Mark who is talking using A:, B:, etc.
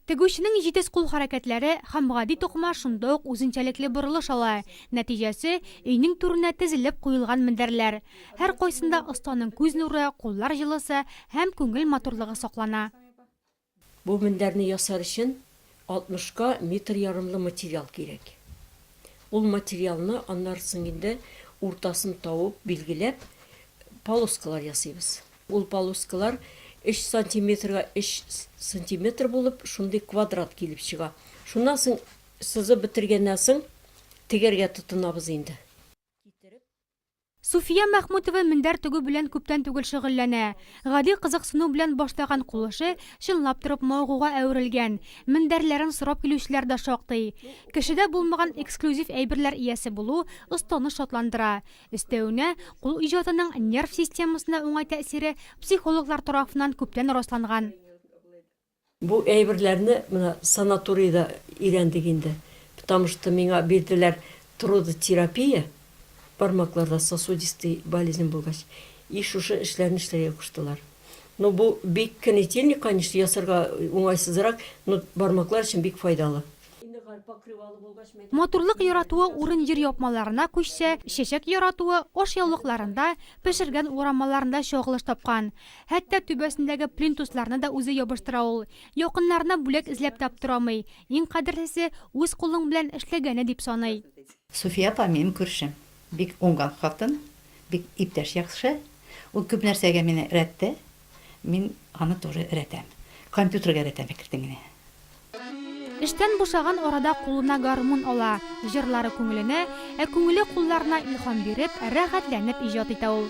A: Тегүченең җитез кул хәрәкәтләре һәм гади тукыма шунда ук үзенчәлекле борылыш ала. Нәтиҗәсе, өйнең түренә тезелеп куелган мендәрләр. Һәркайсында останың күз нуры, куллар җылысы һәм күңел матурлыгы саклана. Бу
B: мендәрне ясар өчен Алтмышка метр ярымлы материал кирәк. Ул материалны аннары соң инде уртасын табып, билгеләп, полоскалар ясыйбыз. Ул полоскалар өч сантиметрга өч сантиметр булып, шундый квадрат килеп чыга. Шуннан соң, сызып бетергәннән соң, тегәргә тотынабыз инде.
A: Суфия Мәхмүтова мендәр тегү белән күптән түгел шөгыльләнә. Гади кызыксыну белән башлаган кул эше чынлап торып мавыгуга әверелгән. Мендәрләрен сорап килүчеләр дә шактый. Кешедә булмаган эксклюзив әйберләр иясе булу останы шатландыра. Өстәвенә, кул иҗатының нерв системасына уңай тәэсире психологлар тарафыннан күптән расланган.
B: Бу әйберләрне менә санаторийда өйрәндек инде, потому что миңа бирделәр трудотерапия, бармакларда сосудистый болезнь булгач, и шушы эшләрне эшләргә куштылар. Ну бу бик кнетильник, конечно, ясарга уңайсызрак, но бармаклар өчен бик файдалы.
A: Матурлык яратуы урын җир япмаларына күчсә, чәчәк яратуы ашъяулыкларында, пешергән урамаларында чагылыш тапкан. Хәтта түбәсендәге плинтусларны да үзе ябыштыра ул. Якыннарына бүләк эзләп таптырамый. Иң кадерлесе, үз кулың белән эшләгәне дип саный. Суфия апа, минем
C: күршем. Бик уңган хатын, бик иптәш яхшы. Ул күп нәрсәгә мине рәттә, Мин аны тоже рәтәм. Компьютерга рәтәм әкертим ине.
A: Эштән бушаган арада кулына гармун ала, җырлары күңеленә, ә күңеле кулларына илһам биреп, рәхәтләнеп иҗат итә ул.